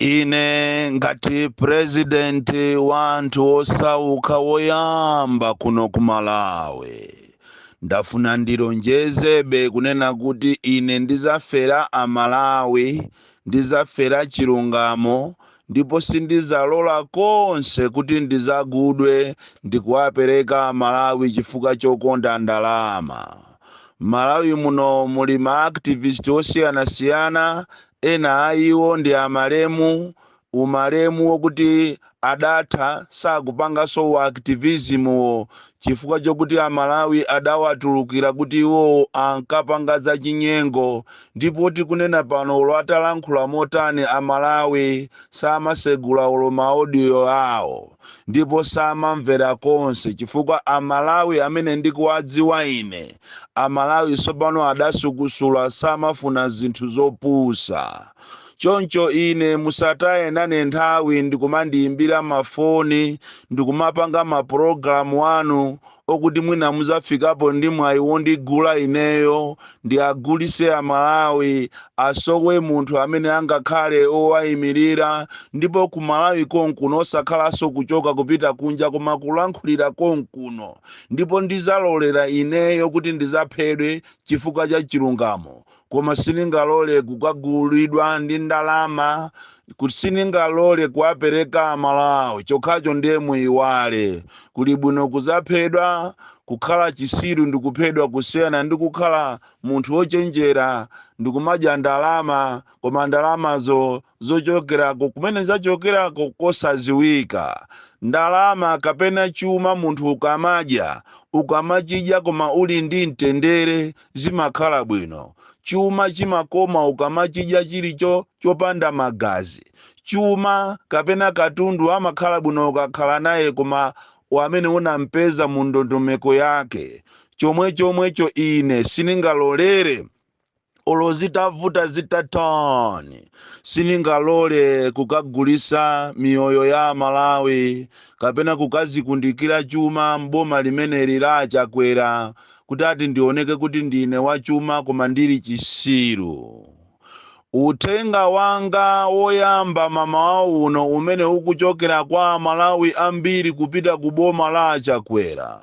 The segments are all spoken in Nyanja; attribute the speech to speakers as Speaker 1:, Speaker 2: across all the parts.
Speaker 1: ine ngati president wa anthu osauka woyamba kuno ku malawi ndafuna ndilonjezebe kunena kuti ine ndizafera amalawi ndizafera chilungamo ndipo sindizalola konse kuti ndizagudwe ndikuwapereka amalawi chifukwa chokonda ndalama malawi muno muli ma activist osiyanasiyana Ena a iwo ndi a malemu, u malemu wokuti adatha, sakupanganso u activism wo chifukwa chokuti a Malawi adawatulukira kuti iwowo ankapanga za chinyengo ndipo tikunena pano olo atalankhula motani a Malawi samasegula olo ma audio awo ndipo samamvera konse chifukwa a Malawi amene ndikuwadziwa ine Amalawi tsopano adasukusula samafuna zinthu zopusa. Choncho ine musataye nane nthawi ndikumandiyimbira mafoni ndikumapanga mapulogalamu anu okuti mwina mudzafikapo ndi mwayi wondigula ineyo, ndiagulise Amalawi, asowe munthu amene angakhale owayimirira ndipo ku Malawi konkuno osakhalanso kuchoka kupita kunja koma kulankhulira konkuno. ndipo ndizalolera ineyo kuti ndizaphedwe chifukwa cha chilungamo koma siningalole kukagulidwa ndi ndalama kuti siningalole kuwapereka amalawi chokhacho ndiye muyiwale kuli bwino kuzaphedwa kukhala chisiru ndikuphedwa kusiyana ndi kukhala munthu wochenjera ndikumadya ndalama koma ndalamazo zochokerako kumene zachokerako kosaziwika. Ndalama kapena chuma munthu ukamadya, ukamachidya koma uli ndi mtendere zimakhala bwino. Chuma chimakoma ukamachidya chili cho chopanda magazi. Chuma kapena katundu amakhala bwino ukakhala naye koma wamene unampeza mu ndondomeko yake. Chomwechomwecho ine siningalolere. olo zitavuta zitatani siningalole kukagulisa miyoyo ya amalawi kapena kukazikundikira chuma m'boma limeneli la achakwera kuti ati ndioneke kuti ndine wachuma koma ndili chisiru uthenga wanga woyamba m'mamawa uno umene ukuchokera kwa amalawi ambiri kupita ku boma la achakwera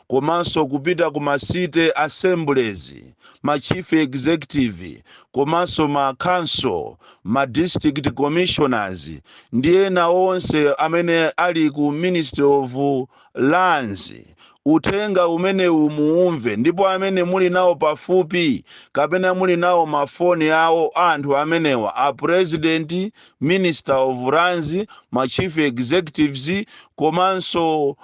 Speaker 1: komanso kupita ku ma city assemblies, ma chief executive komanso ma council, ma district commissioners ndi ena onse amene ali ku ministry of lands uthenga umenewu muumve ndipo amene muli nawo pafupi kapena muli nawo mafoni awo a anthu amenewa a president, minister of lands, ma chief executives komanso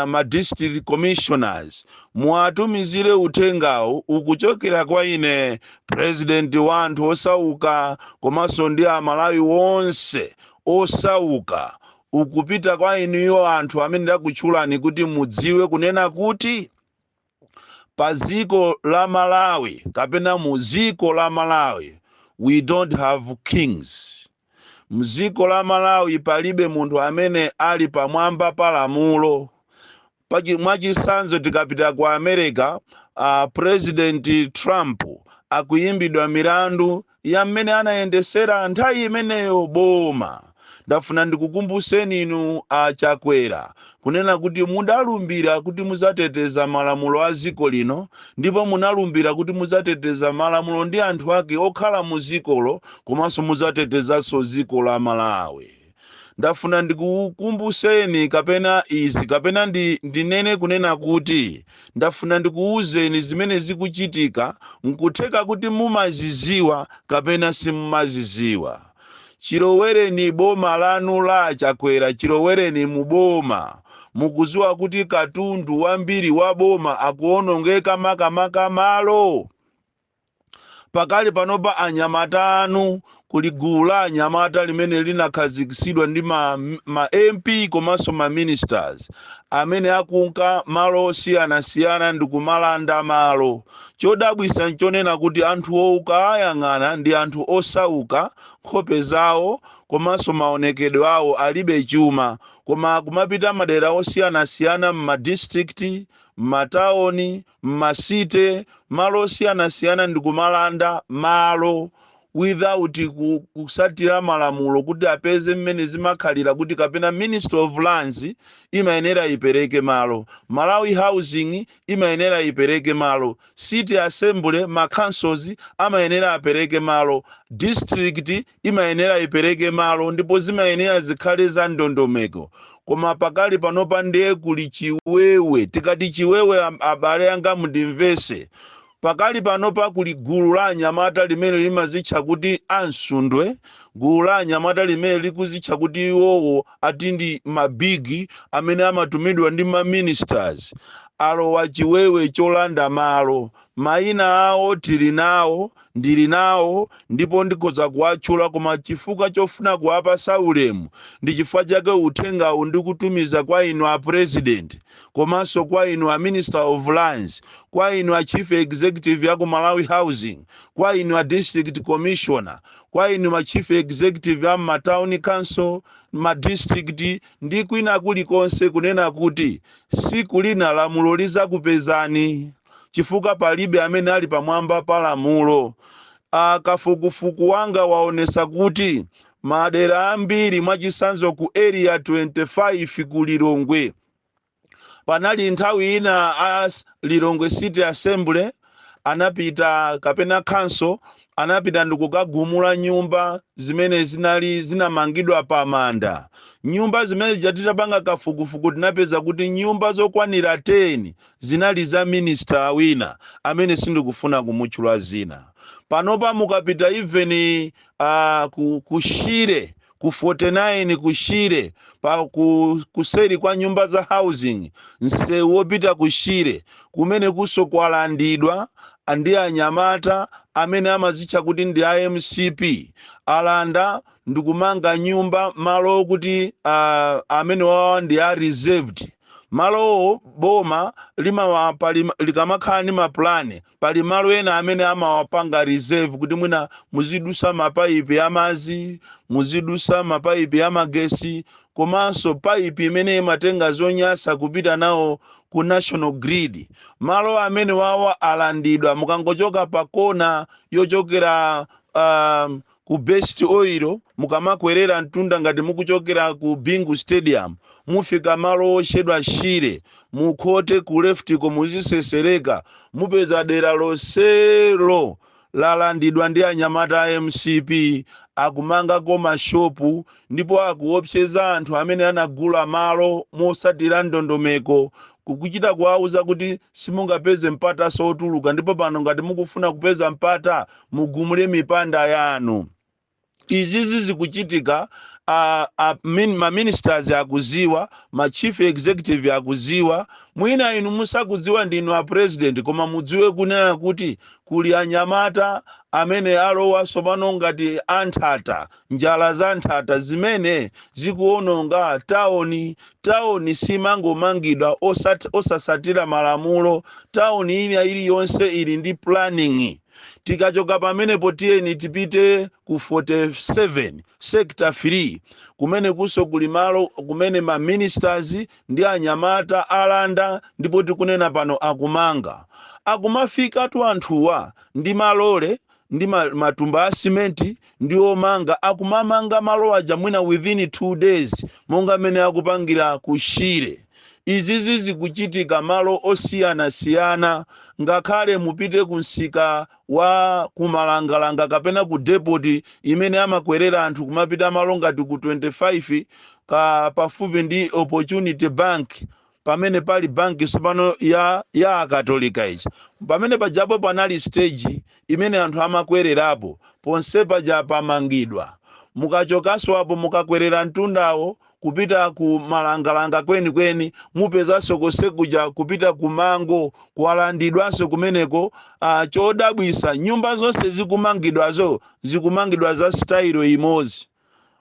Speaker 1: ma district commissioners muwatumizire uthengawu ukuchokera kwa ine president wa anthu osauka komanso ndi amalawi onse osauka ukupita kwa inuyo anthu amene ndakutchulani kuti mudziwe kunena kuti pa dziko la malawi kapena mu dziko la malawi we don't have kings mdziko la malawi palibe munthu amene ali pamwamba pa lamulo mwachitsanzo tikapita ku america president trump akuyimbidwa milandu ya mmene anayendesera nthawi imeneyo boma. Ndafuna ndikukumbuseni inu a Chakwera kunena kuti mudalumbira kuti muzateteza malamulo a ziko lino ndipo munalumbira kuti muzateteza malamulo ndi anthu ake okhala mu zikolo komanso muzatetezanso ziko la Malawi. ndafuna ndikukumbuseni kapena izi kapena ndinene kunena kuti ndafuna ndikuwuzeni zimene zikuchitika nkutheka kuti mumaziziwa kapena simumaziziwa chilowereni boma lanu la achakwera chilowereni mu boma mukuziwa kuti katundu wambiri wa boma akuonongeka makamaka malo Pakali panopa anyamata anu kuli gulu la anyamata limene linakhazikitsidwa ndi ma MP komanso ma ministers amene akunka malo osiyanasiyana ndi kumalanda malo. Chodabwisa nchonena kuti anthuwo ukaayang'ana ndi anthu osauka, nkhope zawo komanso maonekedwe awo alibe chuma koma kumapita madera osiyanasiyana mma district, mmatauni, mma city malo osiyanasiyana ndikumalanda malo without kusatira malamulo kuti apeze mmene zimakhalira kuti kapena ministry of lands imayenera ipereke malo malawi housing imayenera ipereke malo city assembly ma councils amayenera apereke malo district imayenera ipereke malo ndipo zimayenera zikhale za ndondomeko koma pakali panopa ndiye kuli chiwewe tikati chiwewe am- abale anga mundimvese pakali panopa kuli gulu la anyamata limene limazitcha kuti amsundwe gulu la anyamata limene likuzitcha kuti iwowo ati ndi mabigi amene amatumidwa ndi maministers alowa chiwewe cholanda malo Mayina awo tili nawo, ndili nawo ndipo ndikhoza kuwatchula koma chifukwa chofuna kuwapatsa ulemu ndi chifukwa chake uthengawu ndikutumiza kwa inu a President komanso kwa inu a Minister of Lands, kwa inu a Chief Executive ya ku Malawi Housing, kwa inu a District Commissioner, kwa inu ma Chief Executive a m'ma Town Council, ma District ndi kwina kulikonse kunena kuti siku lina lamulo lizakupezani. chifukwa palibe amene ali pamwamba pa lamulo. Kafukufuku wanga waonesa kuti madera ambiri mwachisanzo ku area 25 ku Lilongwe panali nthawi ina a Lilongwe City Assembly anapita kapena council anapita ndikukagumula nyumba zimene zinali zinamangidwa pa manda nyumba zimene zija titapanga kafukufuku tinapeza kuti nyumba zokwanira 10 Zinali za minister wina amene sindikufuna kumutchula zina. Panopa mukapita even ku ku Shire ku 49 ku Shire pa ku kuseri kwa nyumba za housing nsewu wopita ku Shire kumenekunso kwalandidwa ndi anyamata amene amazitcha kuti ndi a mcp. Alanda ndikumanga nyumba malo okuti amenewawa ndi a reserved. Malowo boma limawa pali likamakhala ndi mapulani pali malo ena amene amawapanga reserve kuti mwina muzidusa mapaipi amazi muzidusa mapaipi amagesi komanso paipi imene imatenga zonyasa kupita nawo ku national grid malo amene wawa alandidwa mukangochoka pa kona yochokera uh, ku best oil mukamakwerera mtunda ngati mukuchokera ku bingu stadium mufika malo otchedwa shire mukhote ku leftiko muzisesereka mupeza dera lonselo lalandidwa ndi anyamata a mcp akumangako mashopu ndipo akuopseza anthu amene anagula malo mosatira ndondomeko kukuchita kuwauza kuti simungapeze mpataso otuluka ndipo pano ngati mukufuna kupeza mpata mugumule mipanda yanu izizi zikuchitika a, a, min, ma ministers akuziwa ma chief executive akuziwa mwina inu musakuziwa ndinu a president koma mudziwe kunena kuti kuli anyamata amene alowa tsopano ngati anthata njala za nthata zimene zikuononga taon- taoni simangomangidwa osat- osasatira malamulo taoni ina iliyonse ili ndi planning tikachoka pamenepo tiyeni tipite ku 47 sector 3 kumene kunso kuli malo kumene ma ministers ndi anyamata alanda ndipo tikunena pano akumanga akumafikatu anthuwa ndi malole ndi ma- matumba a simenti ndi omanga akumamanga malo aja mwina within 2 days monga mmene akupangira ku Shire. Izizi zikuchitika malo osiyanasiyana ngakhale mupite ku msika wa ku Malangalanga kapena ku depot imene amakwerera anthu kumapita malo ngati ku 25 ka pafupi ndi Opportunity Bank pamene pali banki tsopano ya akatolika ija pamene pajapo panali stage imene anthu amakwererapo ponse paja pamangidwa mukachokanso apo mukakwerera mtundawo kupita ku malangalanga kwenikweni mupezanso konse kuja kupita ku mango kwalandidwanso kumeneko uh, chodabwisa nyumba zonse zikumangidwazo zikumangidwa za style imodzi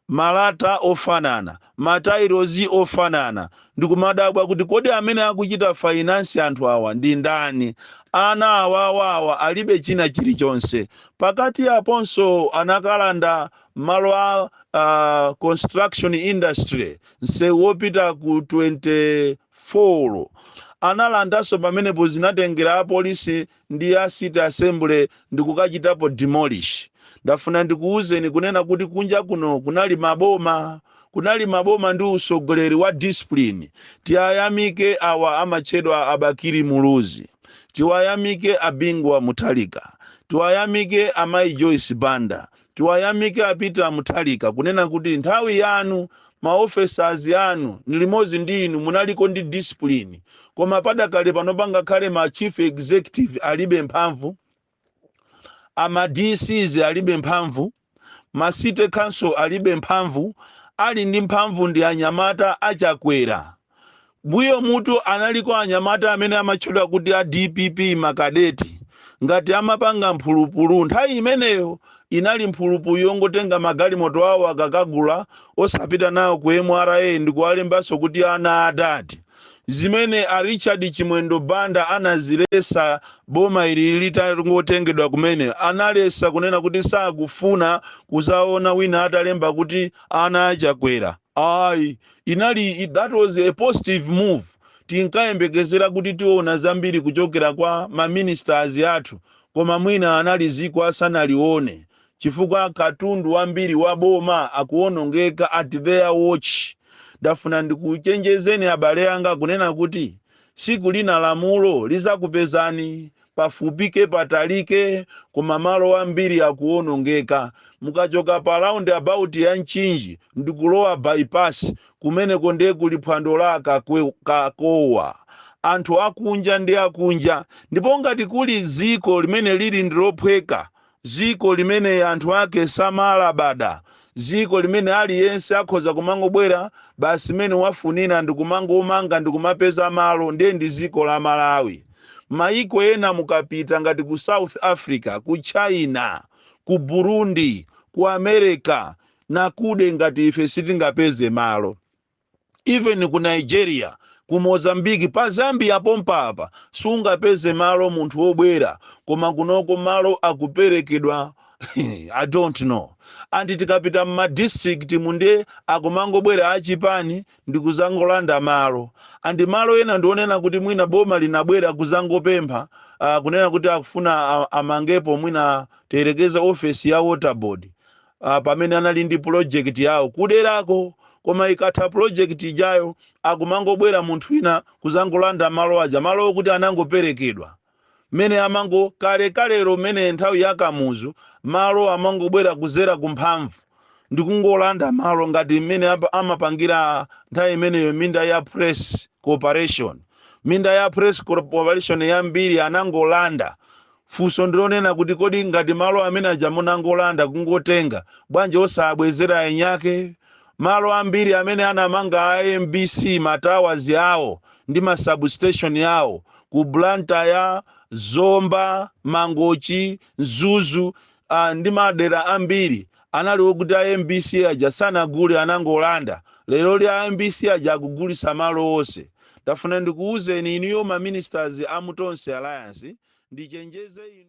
Speaker 1: malata ofanana, matailozi ofanana, ndikumadabwa kuti kodi amene akuchita finance anthu awa ndi ndani? Ana awawa awa alibe china chilichonse. Pakati aponso anakalanda malo a construction industry, nsewu wopita ku 24. Analandanso pamenepo zinatengera apolisi ndi a city assembly ndikukachitapo demolish ndafuna ndikuwuzeni kunena kuti kunja kuno kunali maboma kunali maboma ndi usogoleri wa discipline tiwayamike awa amatchedwa a bakili muluzi tiwayamike a bingu wa mutharika tiwayamike amayi joyce banda Tiwayamike a Peter Mutharika kunena kuti nthawi yanu ma officers anu ni limodzi ndi inu munaliko ndi discipline koma padakali pano ngakhale ma chief executive alibe mphamvu, a ma DCs alibe mphamvu, ma city council alibe mphamvu, ali ndi mphamvu ndi anyamata a Chakwera. Mbuyo mutu analiko anyamata amene amatchedwa kuti a dpp makadeti ngati amapanga mphulupulu nthawi imeneyo inali mphulupulu yongotenga magalimoto awo akakagula osapita nawo ku mra ndikuwalembanso kuti ana a dad zimene a richard chimwendo banda anazilesa boma ili litangotengedwa kumene analesa kunena kuti sakufuna kuzaona wina atalemba kuti ana a chakwera ayi inali i- that was a positive move tinkayembekezera kuti tiona zambiri kuchokera kwa ma ministers athu koma mwina analiziko asanalione chifukwa katundu wambiri wa boma akuonongeka at their watch ndafuna ndikuchenjezeni abale anga kunena kuti siku lina lamulo lizakupezani pafupike patalike koma malo ambiri akuonongeka mukachoka pa round about ya nchinji ndikulowa bypass kumeneko ndiye kuli phwando la akakwe- kakowa anthu akunja ndi akunja ndipo ngati kuli dziko limene lili ndilophweka dziko limene anthu ake samalabada, dziko limene aliyense akhoza kumangobwera basi mmene wafunira ndi kumangomanga ndi kumapeza malo, ndiye ndi dziko la Malawi. Mayiko ena mukapita ngati ku South Africa, ku China, ku Burundi, ku America, nakude ngati ife sitingapeze malo. even ku Nigeria, ku Mozambique, pa Zambia pompa apa sungapeze malo munthu wobwera koma kunoko malo akuperekedwa I don't know and tikapita mma district mu nde akumangobwera achipani ndikuzangolanda malo and malo ena ndionena kuti mwina boma linabwera kuzangopempha uh, kunena kuti akufuna a- amangepo mwina tiyerekeze ofesi ya water board uh, pamene anali ndi project yawo kuderako koma ikatha project ijayo akumangobwera munthu wina kuzangolanda malo aja malo okuti anangoperekedwa mmene amango kale kalero mmene nthawi ya kamuzu malo amangobwera kudzera kumphamvu ndikungolanda malo ngati mmene apa- amapangira nthawi imeneyo minda ya press corporation minda ya press corporation yambiri anangolanda Funso ndilonena kuti kodi ngati malo amene aja munangolanda kungotenga bwanji osawabwezera enyake? Malo ambiri amene anamanga a mbc ma towers awo ndi ma substation awo ku Blantyre, Zomba, Mangochi, Mzuzu ndi madera ambiri Anali okuti a mbc aja sanagule anangolanda, lero li a mbc aja akugulitsa malo onse. Ndafuna ndikuuzeni inuyo ma ministers a mu Tonse Alliance, ndichenjeze inu.